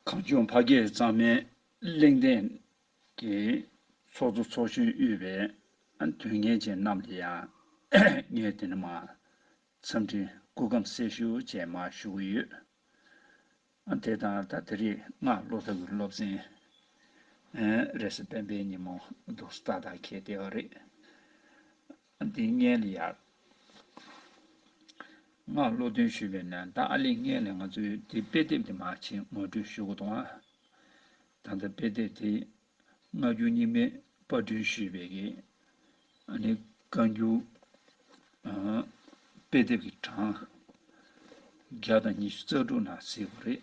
གངས་ལྗོངས་ཕ་སྐད་གཙང་མའི་གླེང་སྟེགས་ཀྱི་ཚོགས་གཙོ་ཚོགས་གཞོན་དབུས་པའི་དོན་གཉེར་ཅན་རྣམས་ལ་ཡང་ངས་དེ་རིང་མ་འཚམས་འདྲི་སྐུ་ཁམས་གསལ་ཞུ་བཅས་མ་ཞུ་གི་ཡོད། དེ་དང་ད་དེ་རིང་སྔ་ལོ་ད་གུས་སློབ་ཚན་རེས་སྤེན་པའི་ཉིན་མོ་འདུག་སྟ་དག་ཁྱེད་བདེ་བ་རེད། ཏིང་ངེ་ལེ་ཡར་མངགས་བློ་མཐུན་ཞུས་པའི་ནང་ཏང་ཨ་ལེ་ངེ་ལེ་ང་ཚོས་དེ་དཔེ་དེབ་དེ་མ་ཕྱིན་ངོ་སྤྲོད་ཞུ་དགོས་དོན་ཨང། ད་ལྟ་དཔེ་དེབ་དེ་སྔ་འགྱུར་རྙིང་མའི་པར་སྐྲུན་ཞུས་པའི་གི་ཨ་ནི་བཀའ་འགྱུར་དཔེ་དེབ་ཀྱི་གྲངས་བརྒྱ་དང་ཉི་ཤུ་རྩ་དྲུག་ན་གཟིགས་པ་རེད།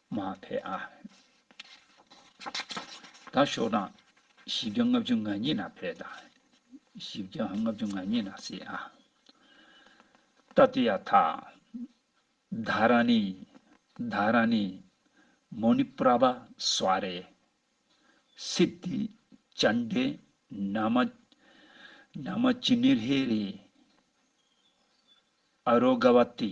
མ་ཕེ་ཨ། དང་ཤོག་གྲངས། བཞི་བརྒྱ་ལྔ་བཅུ་ང་གཉིས་ན་ཕེ་ད། བཞི་བརྒྱ་ལྔ་བཅུ་ང་གཉིས་ན་སི་ཨ། ཏཱ་ཏི་ཡ་ཐ། དྷ་ར་ནི། དྷ་ར་ནི། མོ་ནི་པྲ་བ་སཱ་རེ། སི་ཏི། ཅན་དེ། ན་མ། ན་མ་ཅི་ནི་རྷེ་རེ། ཨ་རོ་ག་བ་ཏི།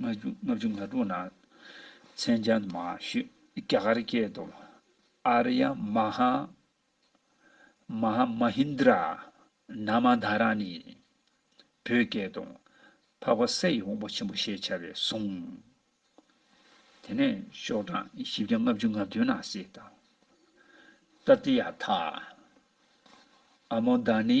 ལྔ་བཅུ་ང་དྲུག་ན་མཚན་བྱང་དུ་མ་ཞུ་རྒྱ་གར་སྐད་དུ་ཨ་ར་ཡ་མ་ཧ་མ་ཧ་མ་ཧིན་དྲ་ན་མ་དྷ་ར་ནི་བོད་སྐད་དུ་འཕགས་པ་ས་ཡི་དབང་པོ་ཆེན་པོ་ཞེས་བྱ་བའི་གཟུངས། དེ་ནས་ཤོག་གྲངས་བཞི་བརྒྱ་ལྔ་བཅུ་ང་བདུན་ན་སི་ཏཱ་ཏཏི་ཡ་དྷ། ཨ་མོ་དྷ་ནི།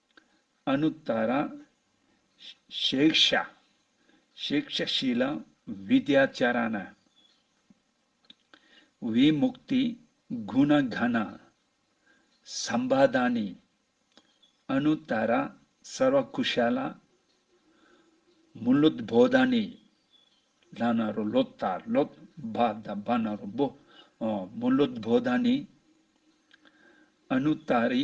ཨ་ནུ་ད་ར། ཤེག་ཤ། ཤེག་ཤ་ཤི་ལ་བི་དྷྱ་ཅཱ་ར་ན། བི་མུག་ཏི་གུ་ན་གྷ་ན། སམ་བྷ་དྷ་ནི། ཨ་ནུ་ད་ར་སར་བ་ཀུ་ཤ་ལ། མུ་ལུད་བྷོ་དྷ་ནི། ལྷ་ན་རོ་ལོད་ད་ལོད་བྷ་དྷ་བྷ་ན་རོ་བྷོ། མུ་ལུད་བྷོ་དྷ་ནི། ཨ་ནུ་ད་རི།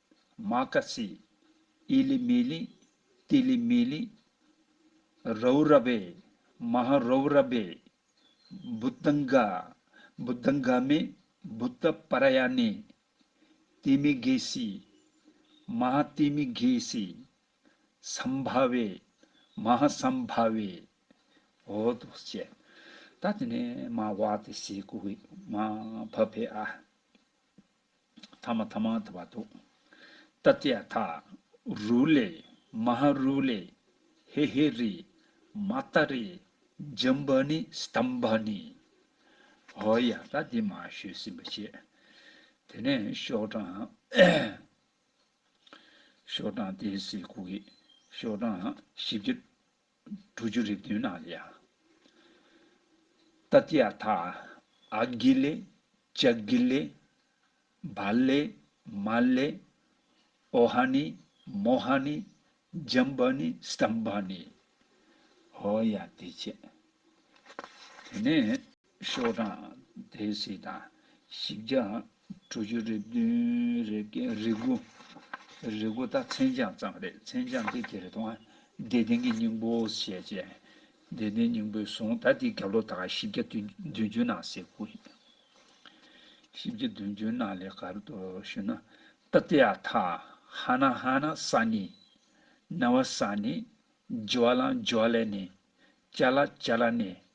མ་ཀ་སི། ཨི་ལི་མི་ལི། ཏི་ལི་མི་ལི། རའུ་ར་བེ། མ་ཧ་རའུ་ར་བེ། བུ་ཏི་འག། བུ་ཏི་འག་མེ། བུ་ཏི་པ་ར་ཡ་ནེ། ཏི་མི་གྷེ་སི། མ་ཧ་ཏི་མི་གྷེ་སི། སམ་བྷ་བེ། མ་ཧ་སམ་བྷ་བེ། ཧོ་དོ་སི། ད་དེ་ནས་མ་བྷ་ཏི་སི་ཀུ་ཧི། མ་ཧ་བྷ་བེ་ཨ། ཐ་མ་ཐ་མ་ཐ་བ་ཏུ། ཏཱ་ཏྱ་ཐཱ། རུ་ལེ། མ་ཧཱ་རུ་ལེ། ཧེ་ཧེ་རི། མ་ཏ་རི། འཇམ་བ་ནི། སྟམ་བ་ནི། ཧོ་ཡ་ད་དེ་མ་ཤོད་སིམ་པ་བྱེད། དེ་ནས་ཤོག་གྲངས། ཤོག་གྲངས་དེ་སིལ་ཁུག་གི། ཤོག་གྲངས་བཞི་བརྒྱ། དྲུག་ཅུ་རེ་བདུན་ན་ལ། ཏཱ་ཏི་ཡ་ཐཱ་ཨ་གྷི་ལེ། ཅ་གྷི་ལེ། བ་ལེ། མ་ལེ། ཨོ་ཧ་ནི། མོ་ཧ་ནི། ཇམ་བ་ནི། སྟམ་བ་ནི། ཧོ་ཡ་དེ་བྱས། དེ་ནས། ཤོག་གྲངས་དེ་སྲིད་དང་བཞི་བརྒྱ་དྲུག་ཅུ་རེ་བདུན་རེ་བརྒྱད་རེ་དགུ་རེ་དགུ་དང་མཚན་བྱང་ཙམ་རེད་མཚན་བྱང་དེ་དེ་རེ་དང་བདེ་ལྡན་གྱི་སྙིང་པོ་ཞེས་བྱས། བདེ་ལྡན་སྙིང་པོའི་གཟུངས་ད་ལྟའི་གབ་ལོ་དག་བཞི་བརྒྱ་བདུན་ཅུ་ནང་གསེས་དགུ་ཡིན། བཞི་བརྒྱ་བདུན་ཅུ་ནང་ལས་གབ་ཏུ་ཞུ་ན། ཏཱ་ཏི་ཨ་ཐ་ཧ་ན་ཧ་ན་ས་ནི། ན་བ་ས་ནི། ཇི་བ་ལ་འཇི་བ་ལས་ནི། ཅཱ་ལ་ཅཱ་ལ་ནི།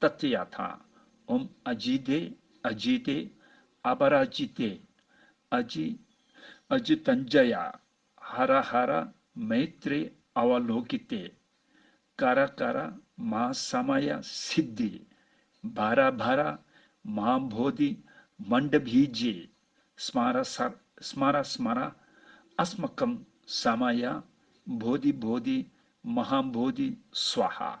ཏཱ་ཏི་ཡཱ་ཐ། ཨོམ་ཨ་ཇི་ཏེ་ཨ་ཇི་ཏེ། ཨ་པ་ར་ཇི་ཏེ་ཨ་ཇི། ཨ་ཇི་ཏན་ཇཱ་ཡ། ཧ་ར་ཧ་ར། མེ་ཏྲེ་ཨ་བ་ལོ་ཀི་ཏེ། ཀ་ར་ཀ་ར། མ་ས་མ་ཡ་སི་དྡྷི། བྷ་ར་བྷ་ར། མ་བྷོ་དྷི། མན་དྷ་བྷི་ཇི། སྨ་ར་ས་ར། སྨ་ར་སྨ་ར། ཨ་སྨ་ཀམ་ས་མ་ཡ། བྷོ་དྷི་བྷོ་དྷི། མ་ཧ་བྷོ་དྷི། སཝཱ་ཧ།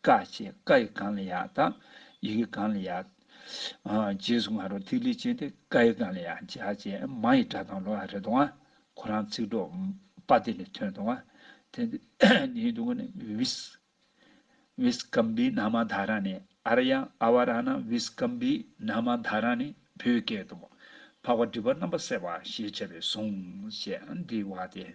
བཀའ་བཅས་བཀའ་ཡི་གངས་ལ་ཡག་དང། ཡི་གེ་གངས་ལ་ཡག། རྗེས་སུ་ང་རོ་ཐིག་ལེ་ཅན་ཏེ་བཀའ་ཡི་གངས་ལ་ཡག་འཇའ་ཅན་མ་ཡི་སྒྲ་དང་ལོ་ཡང་རེ་དོའང། ཁོ་རང་ཚིག་གྲོགས་པ་དེ་ལས་ཐོན་དོའང། དེ་ནི་དུ་ང་ནི་བིས། བིས་ཀམ་བི་ན་མ་དྷ་ར་ནི་ཨ་ར་ཡང་ཨ་བ་ར་ན་བིས་ཀམ་བི་ན་མ་དྷ་ར་ནི་བོད་སྐད་དུ། འཕགས་པ་སྒྲིབ་པ་རྣམ་པ་བསལ་བ་ཞེས་བྱ་བའི་གཟུངས། ཞེས་འདི་བ་སྟེ།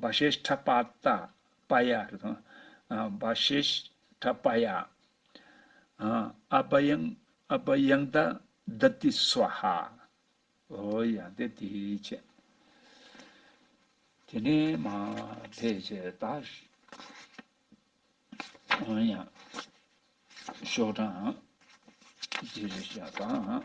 བ་ཤེས་ཁྲ་པ་ཏ་པ་ཡ་རེད་དོ། བ་ཤེས་ཁྲ་པ་ཡ། ཨ་བ་ཡང་ཨ་བ་ཡང་ད་ད་ཏི་སུ་ཧ། ཨོ་ཡ་དེ་དེ་ཆེ། དེ་ནས་མ་དེ་ཆེ་ད། ཨོ་ཡ། ཤོག་གྲངས། དེ་རེད་ཤ་ད།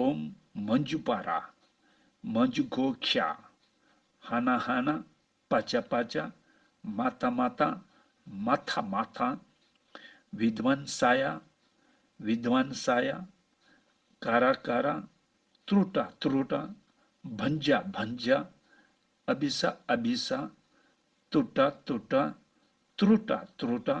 ཨོམ། མ་འཇུག་པ་ར། མ་འཇུག་གོ་ཤ། ཧ་ན་ཧ་ན། པ་ཅ་པ་ཅ། མ་ཏཱ་མ་ཏཱ། མ་ཐཱ་མ་ཐཱ། བི་དྷི་ཝན་ས་ཡ། བི་དྷི་ཝན་ས་ཡ། ཀ་ར་ཀ་ར། ཏྲུ་ཏྲ་ཏྲུ་ཏྲ། བྷན་ཇ་བྷན་ཇ། ཨ་བི་ས་ཨ་བི་ས། ཏྲུ་ཏྲ་ཏྲུ་ཏྲ། ཏྲུ་ཏྲ་ཏྲུ་ཏྲ།